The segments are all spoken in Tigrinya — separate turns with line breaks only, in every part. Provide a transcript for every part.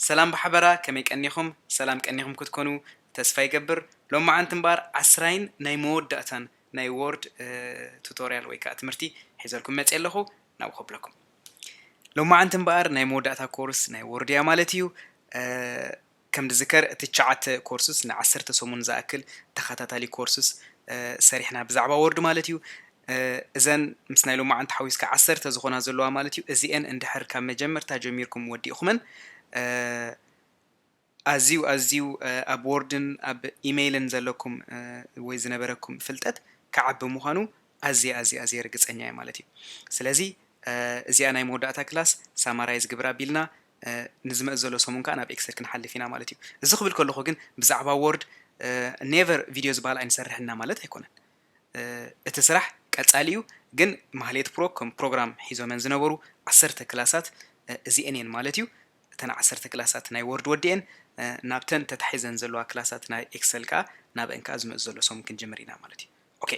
ሰላም ብሓበራ ከመይ ቀኒኹም ሰላም ቀኒኹም ክትኮኑ ተስፋ ይገብር ሎማዓንቲ እምበኣር ዓስራይን ናይ መወዳእታን ናይ ዎርድ ቱቶርያል ወይ ከዓ ትምህርቲ ሒዘልኩም መፅየ ኣለኹ ናብ ከብለኩም ሎማዓንቲ እምበኣር ናይ መወዳእታ ኮርስ ናይ ዎርድ እያ ማለት እዩ ከም ዝዝከር እቲ ትሽዓተ ኮርስስ ንዓሰርተ ሰሙን ዝኣክል ተኸታታሊ ኮርስስ ሰሪሕና ብዛዕባ ወርድ ማለት እዩ እዘን ምስ ናይ ሎማዓንቲ ሓዊስካ ዓሰርተ ዝኾና ዘለዋ ማለት እዩ እዚኤን እንድሕር ካብ መጀመርታ ጀሚርኩም ወዲእኹመን ኣዝዩ ኣዝዩ ኣብ ወርድን ኣብ ኢመይልን ዘለኩም ወይ ዝነበረኩም ፍልጠት ክዓቢ ምዃኑ ኣዝየ ኣዝየ ኣዝየ ርግጸኛ እየ ማለት እዩ ስለዚ እዚኣ ናይ መወዳእታ ክላስ ሳማራይዝ ግብራ ቢልና ንዝመጽ ዘሎ ሰሙን ከኣ ናብ ኤክሰል ክንሓልፍ ኢና ማለት እዩ እዚ ክብል ከለኩ ግን ብዛዕባ ዎርድ ኔቨር ቪድዮ ዝበሃል ኣይንሰርሕን እና ማለት ኣይኮነን እቲ ስራሕ ቀጻሊ እዩ ግን ማህሌት ፕሮ ከም ፕሮግራም ሒዞመን ዝነበሩ ዓሰርተ ክላሳት እዚኤን እየን ማለት እዩ እተን ዓሰርተ ክላሳት ናይ ዎርድ ወዲኤን ናብተን ተታሒዘን ዘለዋ ክላሳት ናይ ኤክሰል ከኣ ናብአን ከኣ ዝመጽ ዘሎ ሰሙን ክንጅምር ኢና ማለት እዩ ኦኬ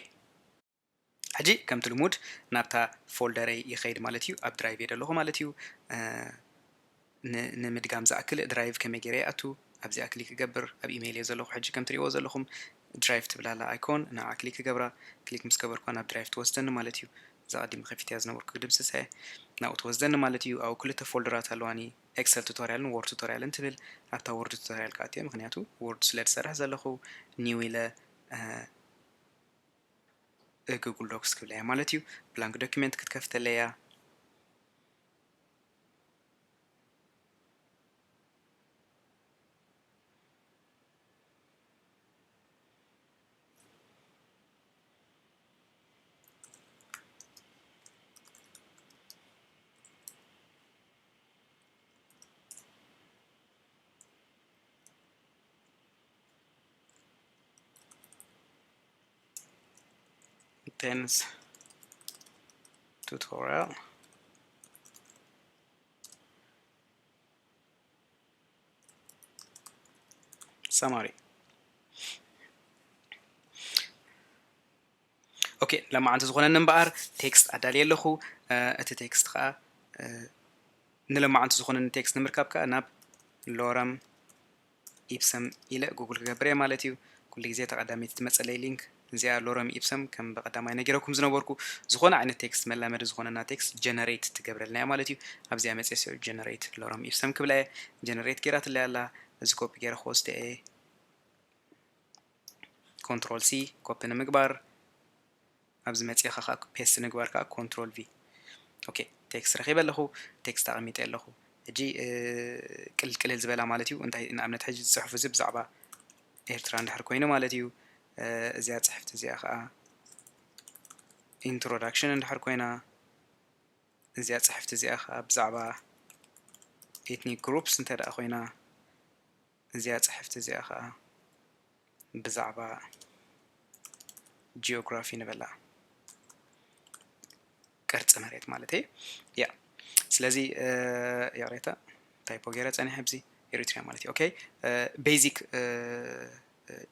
ሕጂ ከምቲ ልሙድ ናብታ ፎልደረይ ይኸይድ ማለት እዩ ኣብ ድራይቭ እየ ዘለኹ ማለት እዩ ንምድጋም ዝኣክል ድራይቭ ከመይ ገይረ ይኣቱ ኣብዚኣ ክሊክ ክገብር ኣብ ኢሜይል እየ ዘለኹ ሕጂ ከም ትሪእዎ ዘለኹም ድራይቭ ትብላላ ኣይኮን ንዓ ክሊክ ክገብራ ክሊክ ምስ ገበርኳ ናብ ድራይቭ ትወስደኒ ማለት እዩ እዛ ቀዲም ከፊትያ ዝነበርኩ ክድምስሰ ናብኡ ትወስደኒ ማለት እዩ ኣብኡ ክልተ ፎልደራት ኣለዋኒ ኤክሰል ቱቶሪያልን ወርድ ቱቶሪያልን ትብል ኣብታ ወርድ ቱቶሪያል ክኣትየ ምክንያቱ ወርድ ስለ ዝሰርሕ ዘለኹ ኒው ኢለ ጉግል ዶክስ ክብላ እያ ማለት እዩ ብላንክ ዶኪመንት ክትከፍተለይ እያ ቴንስ ቱቶሪያል ሰማሪ ኦኬ ለማዓንቲ ዝኾነኒ እምበኣር ቴክስት ኣዳልየ ኣለኹ እቲ ቴክስት ከዓ ንለማዓንቲ ዝኾነኒ ቴክስት ንምርካብ ከዓ ናብ ሎረም ኢፕሰም ኢለ ጉግል ክገብር እየ ማለት እዩ ኩሉ ግዜ ተቐዳሚት ትመፀለይ ሊንክ እዚኣ ሎረም ኢፕሰም ከም ብቐዳማይ ነጊረኩም ዝነበርኩ ዝኾነ ዓይነት ቴክስት መላመዲ ዝኾነና ቴክስት ጀነሬት ትገብረልና እያ ማለት እዩ ኣብዚኣ መፅስ ጀነሬት ሎረም ኢፕሰም ክብላ እየ ጀነሬት ገይራትለይ ኣላ እዚ ኮፒ ገይረ ክወስደ እየ ኮንትሮል ሲ ኮፒ ንምግባር ኣብዚ መፂእኻ ከዓ ፔስት ንግባር ከዓ ኮንትሮል ቪ ኦኬ ቴክስት ረኺበ ኣለኹ ቴክስት ኣቐሚጠ ኣለኹ ሕጂ ቅልል ቅልል ዝበላ ማለት እዩ እንታይ ንኣብነት ሕጂ ዝፅሑፍ እዚ ብዛዕባ ኤርትራ እንድሕር ኮይኑ ማለት እዩ እዚኣ ፅሕፍቲ እዚኣ ከዓ ኢንትሮዳክሽን እንድሕር ኮይና እዚኣ ፅሕፍቲ እዚኣ ከዓ ብዛዕባ ኤትኒክ ግሩፕስ እንተ ደኣ ኮይና እዚኣ ጽሕፍቲ እዚኣ ከኣ ብዛዕባ ጂኦግራፊ ንበላ ቅርጺ መሬት ማለት እዩ ያ ስለዚ ያሬታ ታይፖ ገይረ ጸኒሐ ብዚ ኤሪትሪያ ማለት እዩ ኦኬ ቤዚክ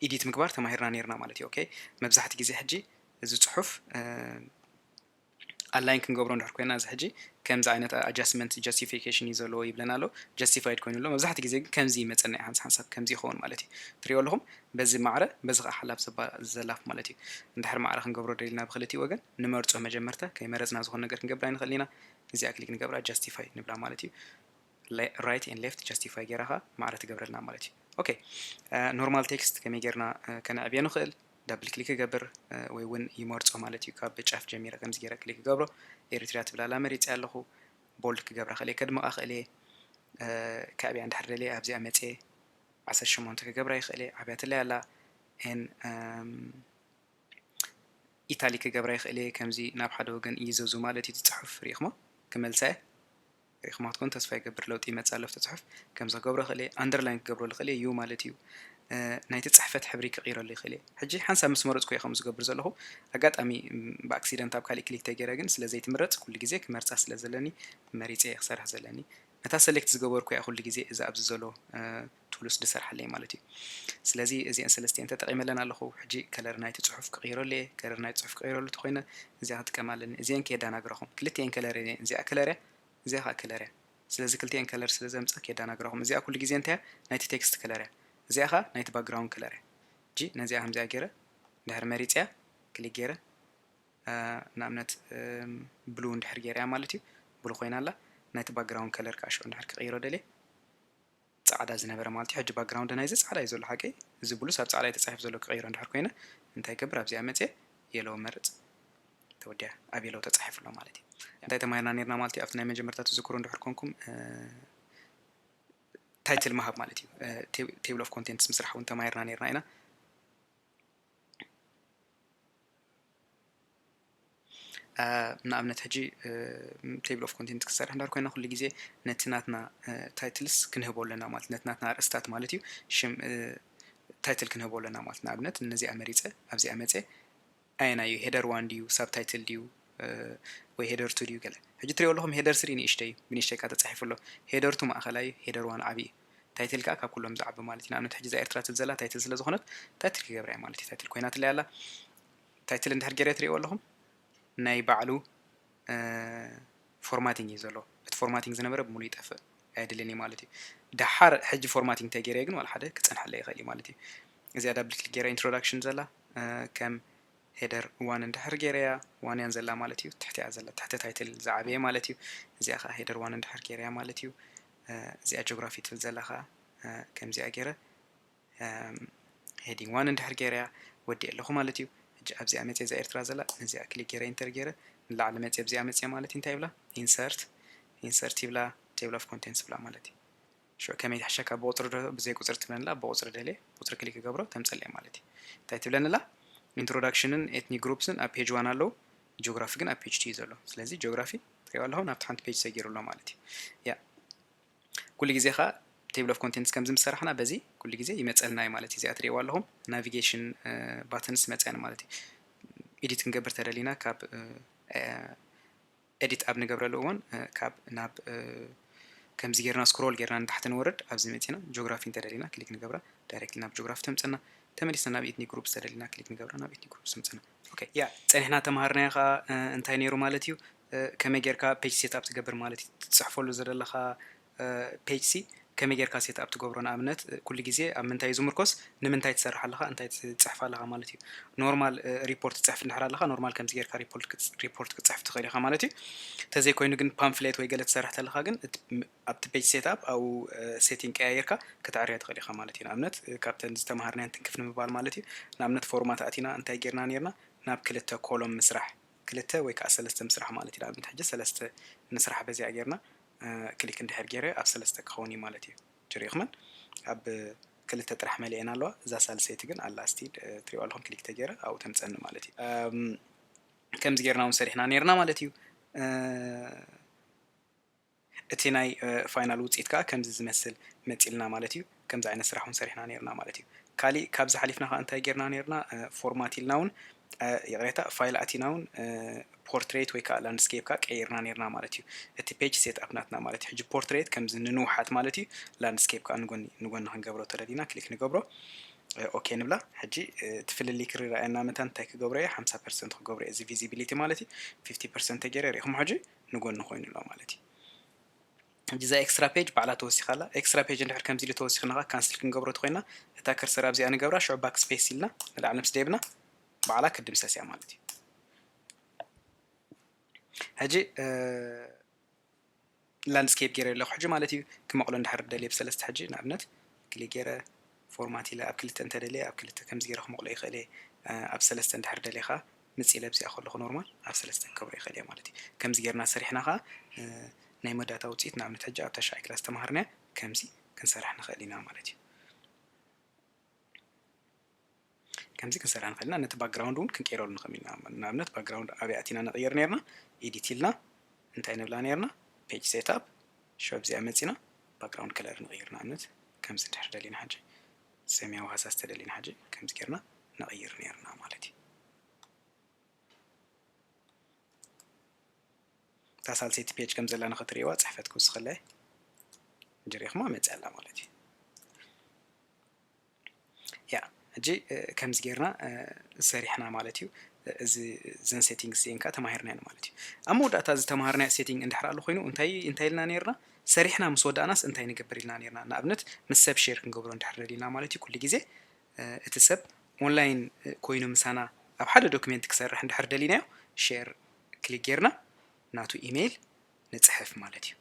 ኢዲት ምግባር ተማሂርና ነርና ማለት እዩ ኦኬ መብዛሕቲ ግዜ ሕጂ እዚ ጽሑፍ ኣላይን ክንገብሮ እንድሕር ኮይና እዚ ሕጂ ከምዚ ዓይነት ኣጃስትመንት ጃስቲፊኬሽን እዩ ዘለዎ ይብለና ኣሎ ጃስቲፋይድ ኮይኑ ኣሎ መብዛሕትኡ ግዜ ግን ከምዚ ይመፀና እዩ ሓንስ ሓንሳብ ከምዚ ይኸውን ማለት እዩ ትሪኦ ኣለኹም በዚ ማዕረ በዚ ከዓ ሓላፍ ዘባ ዘላፍ ማለት እዩ እንድሕር ማዕረ ክንገብሮ ደሊና ብክልቲኡ ወገን ንመርፆ መጀመርታ ከይመረፅና ዝኾነ ነገር ክንገብር ኣይንኽእል ኢና እዚኣ ክሊክ ንገብራ ጃስቲፋይ ንብላ ማለት እዩ ራይት ኤን ሌፍት ጀስቲፋይ ጌራኻ ማዕረ ትገብረልና ማለት እዩ ኦኬ ኖርማል ቴክስት ከመይ ጌርና ከነዕብዮ ንኽእል ዳብል ክሊክ ክገብር ወይ እውን ይመርፆ ማለት እዩ ካብ ጫፍ ጀሚረ ከምዚ ጌረ ክሊክ ክገብሮ ኤሪትሪያ ትብላላ መሪፅ ኣለኹ ቦልድ ክገብራ ክእል ከድምቃ ክእል እየ ከዕብያ እንድሕር ደልየ ኣብዚኣ መፀ ዓሰርተ ሸሞንተ ክገብራ ይኽእል እየ ዓብያትለይ ኣላ ን ኢታሊ ክገብራ ይኽእል እየ ከምዚ ናብ ሓደ ወገን እይዘዙ ማለት እዩ ትፅሑፍ ሪኢኹሞ ክመልሳ እየ ሪኢኹማ ትኾኑ ተስፋ ይገብር ለውጢ ይመጽእ ኣሎ ኣብቲ ጽሑፍ ከምዚ ክገብሮ ይኽእል እየ ኣንደርላይን ክገብሮ ልኽእል እየ ዩ ማለት እዩ ናይቲ ጽሕፈት ሕብሪ ክቕይረሉ ይኽእል እየ ሕጂ ሓንሳብ ምስ መረጽኩ እየ ከምኡ ዝገብር ዘለኹ ኣጋጣሚ ብኣክሲደንት ኣብ ካሊእ ክሊክ ተገይረ ግን ስለ ዘይትምረጽ ኩሉ ግዜ ክመርጻ ስለ ዘለኒ መሪጸ እየ ክሰርሕ ዘለኒ ነታ ሰሌክት ዝገበርኩ እያ ኩሉ ግዜ እዚ ኣብዚ ዘሎ ቱሉስ ድሰርሓለይ ማለት እዩ ስለዚ እዚኤን ሰለስቲኤን ተጠቂመለን ኣለኩ ሕጂ ከለር ናይቲ ጹሑፍ ክቅይረሉ እየ ከለር ናይቲ ጹሑፍ ክቅይረሉ ተኮይነ እዚኣ ክጥቀም ኣለኒ እዚኤን ከየዳናግራኩም ክልቲኤን ከለር እየን እዚኣ ከለር እያ እዚኣ ከኣ ከለር እያ ስለዚ ክልቲኤን ከለር ስለ ዘምጻ ከየዳናግራኩም እዚኣ ኩሉ ግዜ እንታይ እያ ናይቲ ቴክስት ከለር እያ እዚኣ ከኣ ናይቲ ባክግራውንድ ከለር እያ ሕጂ ነዚኣ ከምዚኣ ገይረ ድሕሪ መሪጽያ ክሊክ ገይረ ንኣብነት ብሉ እንድሕር ገይረያ ማለት እዩ ብሉ ኮይና ኣላ ናይቲ ባክግራውንድ ከለር ከኣ ሽዑ እንድሕር ክቅይሮ ደልየ ጻዕዳ ዝነበረ ማልት'ዩ ሕጂ ባግራውንድ ናይዚ ጻዕዳ እዩ ዘሎ ሓቀይ እዚ ብሉስ ኣብ ጻዕዳ እዩ ተጻሒፉ ዘሎ ክቅይሮ እንድሕር ኮይነ እንታይ ይገብር ኣብዚኣ መጽየ የሎው መርጽ ተወዲኣ ኣብ የሎው ተጻሒፉ ኣሎ ማለት እዩ እንታይ ተማሂርና ኔርና ማለት እዩ ኣብቲ ናይ መጀመርታ ትዝክሩ እንድሕር ኮንኩም ታይትል ምሃብ ማለት እዩ ቴብል ኦፍ ኮንቴንትስ ምስራሕ እውን ተማሂርና ኔርና ኢና ንኣብነት ሕጂ ቴብል ኦፍ ኮንቴንት ክሰርሕ እንዳር ኮይና ኩሉ ግዜ ነቲ ናትና ታይትልስ ክንህቦ ኣለና ማለት ነቲ ናትና ኣርእስታት ማለት እዩ ሽም ታይትል ክንህቦ ኣለና ማለት ንኣብነት ነዚኣ መሪፀ ኣብዚኣ መፀ ኣየና እዩ ሄደር ዋን ድዩ ሳብ ታይትል ድዩ ወይ ሄደር ቱ ድዩ ገለ ሕጂ ትሪኦ ኣለኹም ሄደር ስሪ ንእሽተይ እዩ ብንእሽተይ ካ ተፃሒፉ ኣሎ ሄደር ቱ ማእኸላይ እዩ ሄደር ዋን ዓብዪ እዩ ታይትል ከኣ ካብ ኩሎም ዝዓቢ ማለት እዩ ንኣብነት ሕጂ እዛ ኤርትራ ትብል ዘላ ታይትል ስለ ዝኾነት ታይትል ክገብራ እየ ማለት እዩ ታይትል ኮይናትለይ ኣላ ታይትል እንድሕር ጌረ ትርእይዎ ኣለኹም ናይ ባዕሉ ፎርማቲንግ እዩ ዘሎ እቲ ፎርማቲንግ ዝነበረ ብምሉእ ይጠፍእ ኣየድልን እዩ ማለት እዩ ደሓር ሕጂ ፎርማቲንግ እንተገይረ ግን ዋላ ሓደ ክፀንሐለ ይኽእል እዩ ማለት እዩ እዚኣ ዳብል ክሊክ ገይረ ኢንትሮዳክሽን ዘላ ከም ሄደር ዋን እንድሕር ገይረያ ዋን እያን ዘላ ማለት እዩ ትሕቲያ ዘላ ትሕቲ ታይትል ዝዓበየ ማለት እዩ እዚኣ ከዓ ሄደር ዋን እንድሕር ገይረያ ማለት እዩ እዚኣ ጆግራፊ ትብል ዘላ ከኣ ከምዚኣ ገይረ ሄዲንግ ዋን እንድሕር ገይረያ ወዲኤ ኣለኹ ማለት እዩ። ሕጂ ኣብዚኣ መጺኤ እዛ ኤርትራ ዘላ ነዚኣ ክሊክ ገይረ ኢንተር ገይረ ንላዕሊ መጺኤ ኣብዚኣ መጺኤ ማለት እንታይ ይብላ ኢንሰርት ኢንሰርት ይብላ ቴብል ኦፍ ኮንቴንትስ ይብላ ማለት እዩ። ሽዑ ከመይ ትሕሸካ ብቁጽሪ ዶ ብዘይ ቁጽሪ ትብለኒ ኣላ ብቁጽሪ ደልየ ቁጽሪ ክሊክ ክገብሮ ተምጸለይ ማለት እዩ። እንታይ ትብለኒ ኣላ ኢንትሮዳክሽንን ኤትኒክ ግሩፕስን ኣብ ፔጅ ዋን ኣለዉ ጆግራፊ ግን ኣብ ፔጅ ቱ እዩ ዘሎ ስለዚ ጆግራፊ ትሪእዋ ኣለኹም ናብቲ ሓንቲ ፔጅ ሰጊሩ ኣሎ ማለት እዩ ያ ኩሉ ግዜ ከዓ ቴብል ኦፍ ኮንቴንትስ ከምዚ ምስ ሰራሕና በዚ ኩሉ ግዜ ይመፀልና እዩ ማለት እዩ እዚኣ ትሪእዋ ኣለኹም ናቪጌሽን ባትንስ መፅያን ማለት እዩ ኤዲት ክንገብር ተደሊና ካብ ኤዲት ኣብ ንገብረሉ እዋን ካብ ናብ ከምዚ ጌርና ስክሮል ጌርና ንታሕቲ ንወርድ ኣብዚ መፂና ጂኦግራፊ እንተደሊና ክሊክ ንገብራ ዳይሬክትሊ ናብ ጂኦግራፊ ተምፅና ተመሊስና ናብ ኤትኒክ ግሩፕ ዝተደሊና ክሊክ ንገብራ ናብ ኤትኒክ ግሩፕ ተምፅና ኦከይ ያ ጸኒሕና ተማሃርናዮ ከኣ እንታይ ኔሩ ማለት እዩ ከመይ ጌርካ ፔጅ ሴት ኣፕ ትገብር ማለት እዩ ትጽሕፈሉ ዘደለኻ ፔጅ ሲ ከመይ ጌርካ ሴት ኣፕ ትገብሮ ንኣብነት ኩሉ ግዜ ኣብ ምንታይ እዩ ዝምርኮስ ንምንታይ ትሰርሕ ኣለኻ እንታይ ትጽሕፍ ኣለኻ ማለት እዩ ኖርማል ሪፖርት ትጽሕፍ እንድሕር ኣለኻ ኖርማል ከምዚ ጌርካ ሪፖርት ክትጽሕፍ ትኽእል ኢኻ ማለት እዩ ተዘይኮይኑ ግን ፓምፍሌት ወይ ገለ ትሰርሕ ተለኻ ግን ኣብቲ Page Setup ኣብኡ Setting ቀያይርካ ከተዐርያ ትኽእል ኢኻ ማለት እዩ። ንኣብነት ካብተን ዝተመሃርናየን ትንክፍ ንምባል ማለት እዩ። ንኣብነት Format ኣቲና እንታይ ጌርና ኔርና ናብ ክልተ Column ምስራሕ ክልተ ወይ ከኣ ሰለስተ ምስራሕ ማለት እዩ። ንኣብነት ሕጂ ሰለስተ ንስራሕ በዚኣ ጌርና Click እንድሕር ጌረ ኣብ ሰለስተ ክኸውን እዩ ማለት እዩ። ሕጂ ሪእኹመን ኣብ ክልተ ጥራሕ መሊኤን ኣለዋ እዛ ሳልሰይቲ ግን ኣላ እስቲ ትሪእዋ ኣለኹም Click ተጌረ ኣብኡ ተምጸኒ ማለት እዩ። ከምዚ ጌርና ውን ሰሪሕና ኔርና ማለት እዩ። እቲ ናይ ፋይናል ውፅኢት ከዓ ከምዚ ዝመስል መፂልና ማለት እዩ። ከምዚ ዓይነት ስራሕ እውን ሰሪሕና ነይርና ማለት እዩ። ካሊእ ካብዚ ሓሊፍና ከዓ እንታይ ገይርና ነይርና ፎርማት ኢልና እውን ይቕሬታ ፋይል ኣቲና እውን ፖርትሬት ወይ ከዓ ላንድስኬፕ ከዓ ቀይርና ነይርና ማለት እዩ። እቲ ፔጅ ሴት ኣፕ ናትና ማለት እዩ። ሕጂ ፖርትሬት ከምዚ ንንውሓት ማለት እዩ። ላንድስኬፕ ከዓ ንጎኒ ንጎኒ ክንገብሮ ተደሊና ክሊክ ንገብሮ ኦኬ ንብላ ሕጂ እቲ ፍልልይ ክርኣየና መታን እንታይ ክገብሮ እየ ሓምሳ ፐርሰንት ክገብሮ እየ እዚ ቪዚቢሊቲ ማለት እዩ ፊፍቲ ፐርሰንት ተገይረ ሪኢኹም ሕጂ ንጎኒ ኮይኑ ኣሎ ማለት እዩ። ሕጂ እዛ ኤክስትራ ፔጅ ባዕላ ተወሲኻ ኣላ። ኤክስትራ ፔጅ እንድሕር ከምዚ ኢሉ ተወሲኽና ከኣ ካንስል ክንገብሮ ተኾይና እታ ከርሰር ኣብዚኣ ንገብራ ሽዑ ባክ ስፔስ ኢልና ንላዕሊ ምስ ደይብና ባዕላ ክትድምሰስ እያ ማለት እዩ። ሕጂ ላንድስኬፕ ገይረ ኣለኹ ሕጂ ማለት እዩ ክመቕሎ እንድሕር ደልየ ብሰለስተ ሕጂ ንኣብነት ክሊክ ገይረ ፎርማት ኢለ ኣብ ክልተ እንተደልየ ኣብ ክልተ ከምዚ ገይረ ክመቕሎ ይኽእል እየ ኣብ ሰለስተ እንድሕር ደልየ ከዓ ምጺ ለብሲኣ ከለኹ ኖርማል ኣብ ሰለስተ ክገብሮ ይኽእል እየ ማለት እዩ። ከምዚ ጌርና ሰሪሕና ከኣ ናይ መወዳእታ ውጽኢት ንኣብነት ሕጂ ኣብ ታሽዓይ ክላስ ዝተማሃርናያ ከምዚ ክንሰርሕ ንኽእል ኢና ማለት እዩ። ከምዚ ክንሰርሕ ንኽእል ኢና ነቲ ባክግራውንድ እውን ክንቀይረሉ ንኽእል ኢና ንኣብነት ባክግራውንድ ኣብይ ኣቲና ንቕይር ነርና ኤዲት ኢልና እንታይ ንብላ ነርና ፔጅ ሴትኣፕ ሸብ እዚኣ መጺና ባክግራውንድ ከለር ንቕይር ንኣብነት ከምዚ እንድሕር ደሊና ሕጂ ሰማያዊ ሃሳስ ተደሊና ሕጂ ከምዚ ጌርና ነቕይር ኔርና ማለት እዩ። እታ ሳልሰይቲ ፔጅ ከም ዘላ ንኽትርእይዋ ጽሕፈት ክውስኸለ ጀሪኹማ መጽእ ኣላ ማለት እዩ። ያ ሕጂ ከምዚ ጌርና ሰሪሕና ማለት እዩ እዚ ዘን ሴቲንግስ እዚኤን ከዓ ተማሂርናየን ማለት እዩ ኣብ መወዳእታ ዝተምሃርናዮ ሴቲንግ እንድሕር ኣሎ ኮይኑ እንታይ እንታይ ኢልና ነይርና ሰሪሕና ምስ ወዳእናስ እንታይ ንገብር ኢልና ኔርና ንኣብነት ምስ ሰብ ሼር ክንገብሮ እንድሕር ደሊና ማለት እዩ ኩሉ ግዜ እቲ ሰብ ኦንላይን ኮይኑ ምሳና ኣብ ሓደ ዶክሜንት ክሰርሕ እንድሕር ደሊናዮ ሼር ክሊክ ጌርና ናቱ ኢሜይል ንጽሕፍ ማለት እዩ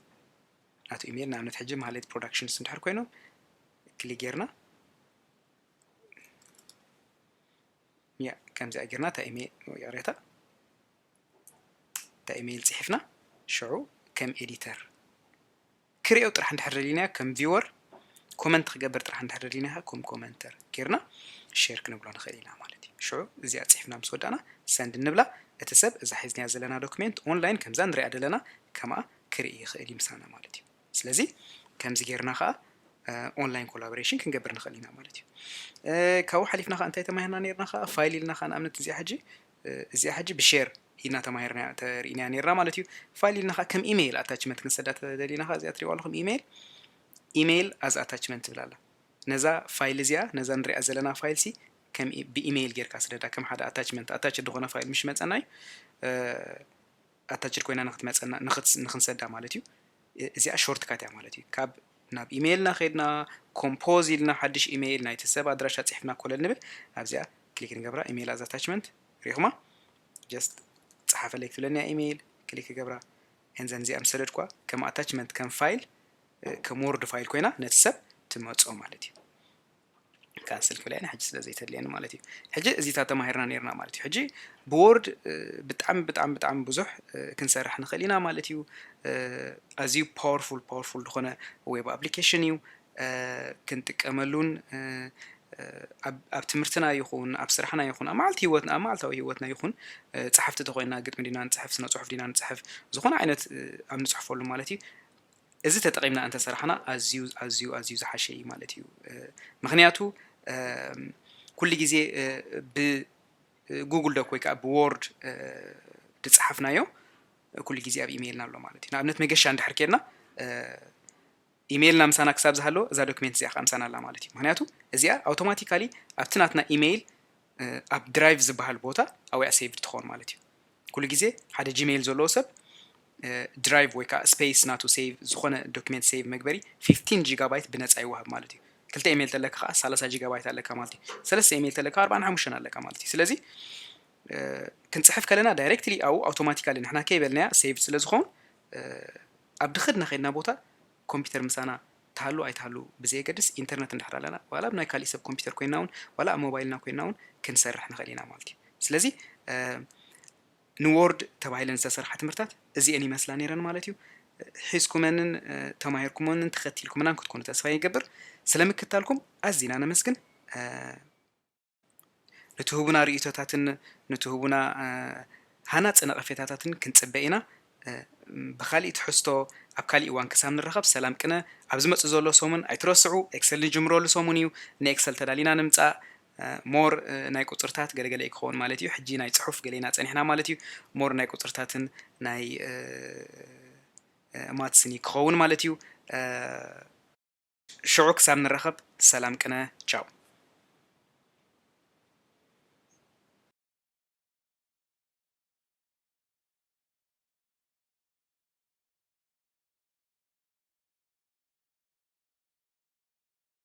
ናቱ ኢሜይል ንኣብነት ሕጂ ማህሌት ፕሮዳክሽንስ እንድሕር ኮይኖም ክሊክ ጌርና ያ ከምዚኣ ጌርና እታ ኢሜይል ይቕሬታ እታ ኢመይል ጺሒፍና ሽዑ ከም ኤዲተር ክሪኦ ጥራሕ እንድሕር ደሊናዮ ከም ቪወር ኮመንት ክገብር ጥራሕ እንድሕር ደሊናዮ ከም ኮመንተር ጌርና ሼር ክንብሎ ንኽእል ኢና ማለት እዩ ሽዑ እዚኣ ጺሒፍና ምስ ወዳእና ሰንድ እንብላ እቲ ሰብ እዛ ሒዝናያ ዘለና ዶክሜንት ኦንላይን ከምዛ ንሪኣ ዘለና ከምኣ ክርኢ ይኽእል እዩ ምሳና ማለት እዩ ስለዚ ከምዚ ጌርና ከዓ ኦንላይን ኮላቦሬሽን ክንገብር ንኽእል ኢና ማለት እዩ ካብኡ ሓሊፍና ከዓ እንታይ ተማሂርና ነርና ከዓ ፋይል ኢልና ከዓ ንኣብነት እዚኣ ሕጂ እዚኣ ሕጂ ብሼር ኢልና ተማሂርናያ ተሪኢናያ ኔርና ማለት እዩ ፋይል ኢልና ከኣ ከም ኢመይል ኣታችመንት ክንሰዳ ተደሊና ከኣ እዚኣ ትሪእዋ ኣለኹም ኢመይል ኢመይል ኣዝ ኣታችመንት ትብል ኣላ ነዛ ፋይል እዚኣ ነዛ ንሪኣ ዘለና ፋይል ሲ ከም ብኢመይል ጌርካ ስደዳ ከም ሓደ ኣታችመንት ኣታች ዝኾነ ፋይል ምሽ መጸና እዩ ኣታችድ ኮይና ንክትመፀና ንክንሰዳ ማለት እዩ እዚኣ ሾርት ካት እያ ማለት እዩ ካብ ናብ ኢሜይልና ከድና ኮምፖዝ ኢልና ሓድሽ ኢሜይል ናይቲ ሰብ ኣድራሻ ፅሕፍና ኮለል ንብል ኣብዚኣ ክሊክ ንገብራ ኢሜይል ኣዝ ኣታችመንት ሪኹማ ጀስት ፀሓፈለይ ክትብለኒ እያ ኢሜይል ክሊክ ገብራ እንዘን እዚኣ ምስ ሰደድኳ ከም ኣታችመንት ከም ፋይል ከም ወርድ ፋይል ኮይና ነቲ ሰብ ትመፆ ማለት እዩ ካንስል ክብላ ኢና ሕጂ ስለ ዘይተድልየኒ ማለት እዩ ሕጂ እዚታት ተማሂርና ነርና ማለት እዩ ሕጂ ብዎርድ ብጣዕሚ ብጣዕሚ ብጣዕሚ ብዙሕ ክንሰርሕ ንኽእል ኢና ማለት እዩ ኣዝዩ ፓወርፉል ፓወርፉል ዝኾነ ዌብ ኣፕሊኬሽን እዩ ክንጥቀመሉን ኣብ ትምህርትና ይኹን ኣብ ስራሕና ይኹን ኣብ መዓልቲ ህይወትና ኣብ መዓልታዊ ህይወትና ይኹን ፀሓፍቲ ተኮይና ግጥሚ ዲና ንፅሕፍ ስነ ፅሑፍ ዲና ንፅሕፍ ዝኾነ ዓይነት ኣብ ንፅሕፈሉ ማለት እዩ እዚ ተጠቒምና እንተ ሰራሕና ኣዝዩ ኣዝዩ ኣዝዩ ዝሓሸ እዩ ማለት እዩ ምኽንያቱ ኩሉ ግዜ ብ ጉግል ዶክ ወይ ከዓ ብዎርድ ድፀሓፍናዮ ኩሉ ግዜ ኣብ ኢሜይልና ኣሎ ማለት እዩ ንኣብነት መገሻ እንድሕር ኬድና ኢሜይልና ምሳና ክሳብ ዝሃለወ እዛ ዶክሜንት እዚኣ ከዓ ምሳና ኣላ ማለት እዩ ምክንያቱ እዚኣ ኣውቶማቲካሊ ኣብቲ ናትና ኢሜይል ኣብ ድራይቭ ዝበሃል ቦታ ኣብያ ሴቭድ ትኸውን ማለት እዩ ኩሉ ግዜ ሓደ ጂሜይል ዘለዎ ሰብ ድራይቭ ወይ ከዓ ስፔስ ናቱ ሴቭ ዝኾነ ዶክመንት ሴቭ መግበሪ 15 ጂጋባይት ብነፃ ይወሃብ ማለት እዩ ክልተ ኢሜይል ተለካ ከዓ 30 ጂጋባይት ኣለካ ማለት እዩ ሰለስተ ኢሜይል ተለካ 45 ኣለካ ማለት እዩ ስለዚ ክንፅሕፍ ከለና ዳይሬክትሊ ኣብኡ ኣውቶማቲካሊ ንሕና ከይበልናያ ሴቭ ስለ ዝኸውን ኣብ ድኸድና ከድና ቦታ ኮምፒተር ምሳና ትሃሉ ኣይትሃሉ ብዘየገድስ ኢንተርነት እንድሕር ኣለና ዋላ ኣብ ናይ ካሊእ ሰብ ኮምፒተር ኮይንና ውን ዋላ ኣብ ሞባይልና ኮይንና ውን ክንሰርሕ ንኽእል ኢና ማለት እዩ። ስለዚ ንዎርድ ተባሂለን ዝተሰርሓ ትምህርታት እዚኤን ይመስላ ነይረን ማለት እዩ። ሒዝኩመንን ተማሂርኩሞንን ተኸቲልኩምናን ክትኮኑ ተስፋ ይገብር። ስለምክታልኩም ኣዚና ነመስግን። ንትህቡና ርእይቶታትን ንትህቡና ሃናጺ ነቐፌታታትን ክንጽበ ኢና። ብኻሊእ ትሕዝቶ ኣብ ካሊእ እዋን ክሳብ ንራኸብ ሰላም ቅነ። ኣብ ዝመጽእ ዘሎ ሰሙን ኣይትረስዑ ኤክሰል ንጅምረሉ ሰሙን እዩ። ንኤክሰል ተዳሊና ንምጻእ more ናይ ቁጽርታት ገለ ገለ እዩ ክኸውን ማለት እዩ። ሕጂ ናይ ጽሑፍ ገለ ኢና ጸኒሕና ማለት እዩ። more ናይ ቁጽርታትን ናይ ማትስን እዩ ክኸውን ማለት እዩ። ሽዑ ክሳብ ንራኸብ ሰላም ቅነ ቻው።